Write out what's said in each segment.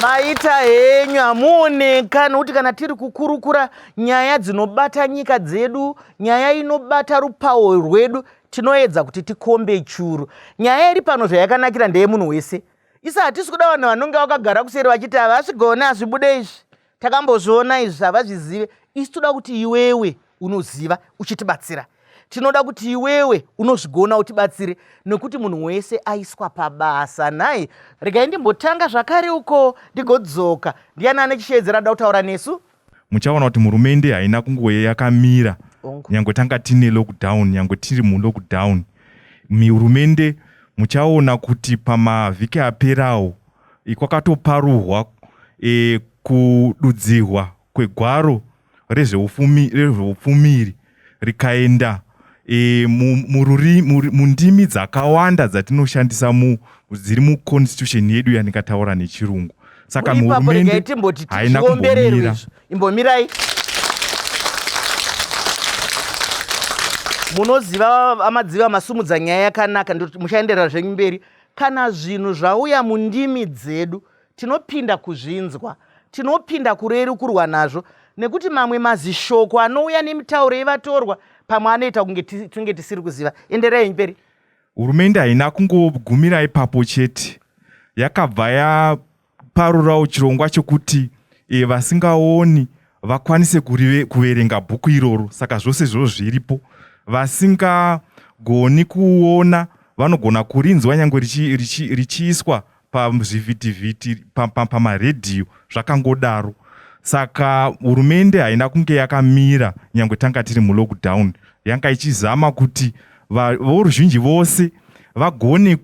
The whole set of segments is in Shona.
maita henyu hamuoneka nokuti kana tiri kukurukura nyaya dzinobata nyika dzedu nyaya inobata rupawo rwedu tinoedza kuti tikombe churu nyaya iri pano zvayakanakira ndeyemunhu wese isa hatisi kuda vanhu vanonge vakagara kuseri vachiti havasi gone hazvibude izvi takambozviona izvi havazvizive isi toda kuti iwewe unoziva uchitibatsira tinoda kuti iwewe unozvigona utibatsire nekuti munhu wese aiswa pabasa nhai regai ndimbotanga zvakare uko ndigodzoka ndiyani ane chisheedzera da kutaura nesu muchaona kuti murumende haina kungoye yakamira nyange tanga tine lockdown nyange tiri mulockdown mihurumende muchaona kuti pamavhiki aperawo kwakatoparuhwa e, kududzirwa kwegwaro rezveupfumiri rikaenda e, mundimi dzakawanda dzatinoshandisa mu, dziri muconstitution yedu yandikataura nechirungu saka hurumende haina kumbomira imbomirai munoziva amadziva masumudza nyaya yakanaka muchaenderera zvenyu mberi Kana zvinhu zvauya mundimi dzedu, tinopinda kuzvinzwa, tinopinda kurerukurwa nazvo, nekuti mamwe mazishoko anouya nemitauro yevatorwa pamwe anoita kunge tinge tisiri kuziva. Endereyi mberi. Hurumende haina kungogumira ipapo chete, yakabva ya parurawo chirongwa chokuti e, vasingaoni vakwanise kurive, kuverenga bhuku iroro saka zvose izvozvo zviripo vasingagoni kuona vanogona kurinzwa nyange richiiswa richi, richi pazvivhitivhiti pamaredhiyo pa, pa zvakangodaro saka hurumende haina kunge yakamira nyange tanga tiri mulockdown yanga ichizama kuti voruzhinji vose vagone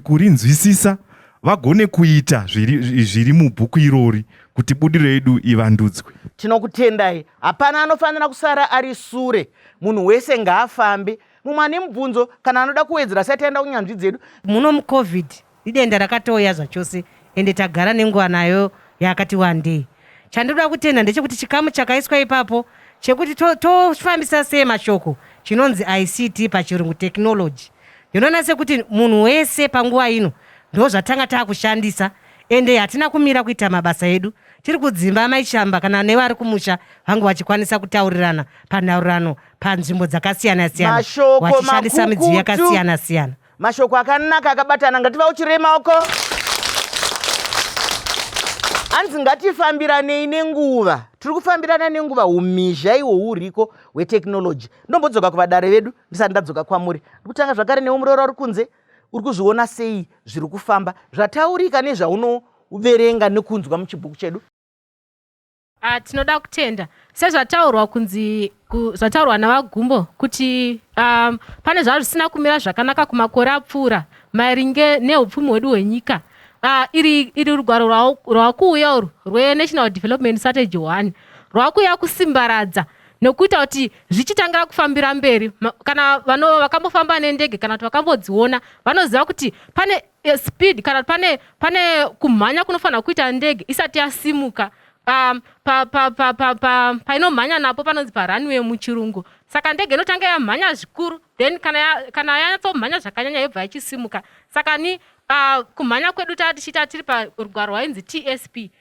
kurinzwisisa vagone kuita zviri mubhuku irori kuti budiro yedu ivandudzwe tinokutendai hapana anofanira kusara ari sure munhu wese ngaafambe mumwe ane mubvunzo kana anoda kuwedzera sati aenda kunyanzvi dzedu muno mucovid Idenda rakatouya zvachose ende tagara nenguva nayo yakati wandei. Chandinoda kutenda ndechekuti chikamu chakaiswa ipapo chekuti tofambisa to sei mashoko chinonzi ICT pachirungu technology. Ndinoona sekuti munhu wese panguva ino ndozvatanga takushandisa ende hatina kumira kuita mabasa edu. Tiri kudzimba Mai Chamba kana nevari kumusha vangu vachikwanisa kutaurirana panhaurano panzvimbo dzakasiyana siyana vachishandisa midziyo yakasiyana siyana. Mashoko akanaka akabatana ngativauchirei maoko. Hanzi ngatifambiranei nenguva. Tiri kufambirana nenguva umhizha iwo uriko hwetekinoloji. Ndombodzoka kuvadare vedu ndisati ndadzoka kwamuri. Ndikutanga zvakare newe muroora uri kunze uri kuzviona sei zviri kufamba zvataurika nezvaunoverenga nekunzwa muchibhuku chedu. Ah, tinoda kutenda sezvataurwa kunzi zvataurwa navagumbo kuti um, pane zvava zvisina kumira zvakanaka kumakore apfuura maringe neupfumi hwedu hwenyika uh, iri, iri rugwaro rwakuuya urwu rwenational development strategy one rwakuuya kusimbaradza nokuita kuti zvichitangira kufambira mberi kana vanova vakambofamba nendege kana kuti vakambodziona vanoziva kuti pane e, speed kana pane pane kumhanya kunofanira kuita ndege isati yasimuka um, painomhanya napo panonzi parunway muchirungu saka ndege inotanga yamhanya zvikuru then kana yanyatsomhanya zvakanyanya yobva yachisimuka saka ni uh, kumhanya kwedu taa tichiita tiri parugwaro rwainzi tsp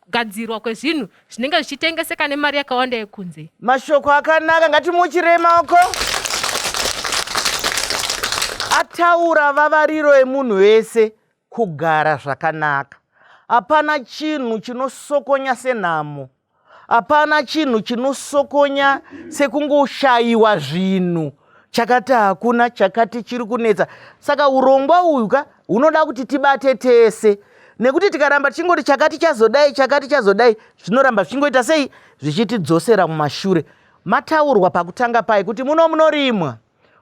kugadzirwa kwezvinhu zvinenge zvichitengeseka nemari yakawanda yekunze mashoko akanaka ngatimuchirei maoko ataura vavariro yemunhu wese kugara zvakanaka hapana chinhu chinosokonya senhamo hapana chinhu chinosokonya sekungoshayiwa zvinhu chakati hakuna chakati chiri kunetsa saka urongwa uyu ka hunoda kuti tibate tese nekuti tikaramba tichingoti chakati chazodai chakati chazodai zvinoramba zvichingoita sei zvichitidzosera mumashure mataurwa pakutanga paye kuti muno munorimwa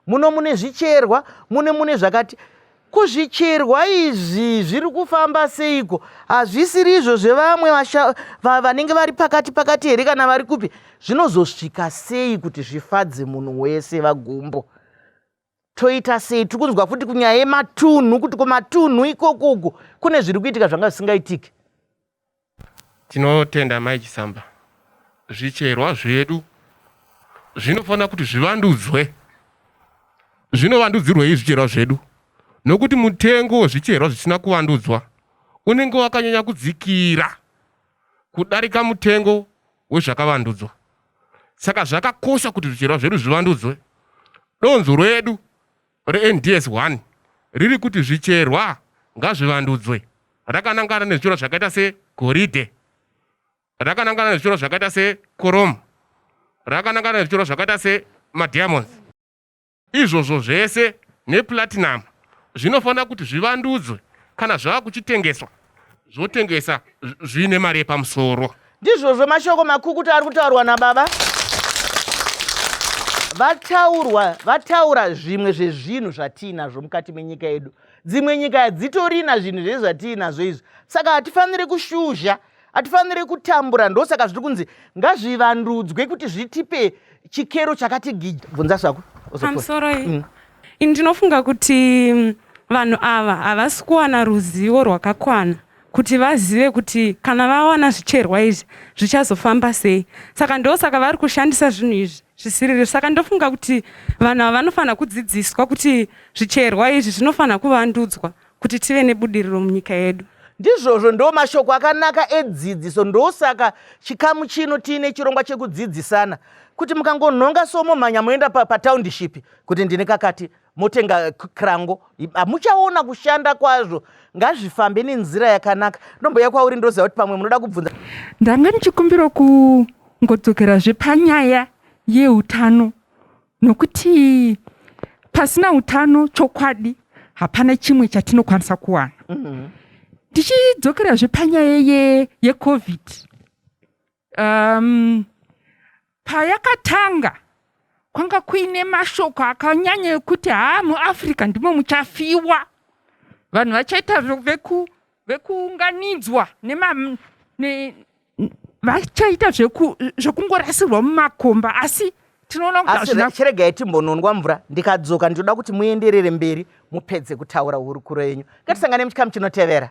muno mune zvicherwa mune mune zvakati kuzvicherwa izvi zviri kufamba seiko hazvisiri izvo zvevamwe vanenge vari pakati pakati here kana vari kupi zvinozosvika sei kuti zvifadze munhu wese vagumbo toita sei tiri kunzwa futi kunyaya yematunhu kuti kumatunhu ikoko uku kune zviri kuitika zvanga zvisingaitiki tinotenda mai chisamba zvicherwa zvedu zvinofanira kuti zvivandudzwe zvinovandudzirwei zvicherwa zvedu nokuti mutengo wezvicherwa zvisina kuvandudzwa unenge wakanyanya kudzikira kudarika mutengo wezvakavandudzwa. Saka zvakakosha kuti zvicherwa zvedu zvivandudzwe. Donzvo redu reNDS 1 riri kuti zvicherwa ngazvivandudzwe rakanangana nezvicherwa zvakaita segoridhe, rakanangana nezvicherwa zvakaita sekoromu, rakanangana nezvicherwa zvakaita semadiamonds. Izvozvo zvese neplatinum zvinofanira kuti zvivandudzwe kana zvava kuchitengeswa zvotengesa zviine mari yepamusoro. Ndizvozvo mashoko makukutu ari kutaurwa nababa vataurwa vataura zvimwe zvezvinhu zvatiinazvo mukati menyika yedu dzimwe nyika hadzitorina zvinhu zvezvatiinazvo izvi saka hatifaniri kushuzha Hatifanire kutambura ndosaka zviri kunzi ngazvivandudzwe kuti zvitipe chikero chakati gija. Bvunza svako. Pamusoro iyi. Mm. Ini ndinofunga kuti mm, vanhu ava havasi kuwana ruzivo rwakakwana kuti vazive kuti kana vawana zvicherwa izvi zvichazofamba sei saka ndosaka vari kushandisa zvinhu izvi zvisiriri saka ndofunga kuti vanhu ava vanofanira kudzidziswa kuti zvicherwa izvi zvinofanira kuvandudzwa Kuti tive nebudiriro munyika yedu. Ndizvozvo ndo mashoko akanaka edzidziso ndosaka chikamu chino tiine chirongwa chekudzidzisana kuti mukangonhonga so momhanya moenda patownship kuti ndine kakati motenga krango hamuchaona kushanda kwazvo ngazvifambe nenzira yakanaka ndomboya kwauri ndoziva kuti pamwe munoda kubvunza ndanga ndichikumbira kungodzokerazve panyaya yeutano nokuti pasina utano chokwadi hapana chimwe chatinokwanisa kuwana mm-hmm. tichidzokerazve panyaya ye, yecovid um, payakatanga kwanga kuine mashoko akanyanya ekuti haa muafrica ndimo muchafiwa vanhu vachaita veku vekuunganidzwa nema ne, vachaita zveku, zvekungorasirwa mumakomba asi tinoona kuti asi hazvina re- chiregai timbononwa mvura ndikadzoka ndinoda kuti muenderere mberi mupedze kutaura hurukuro yenyu ngatisangane muchikamu chinotevera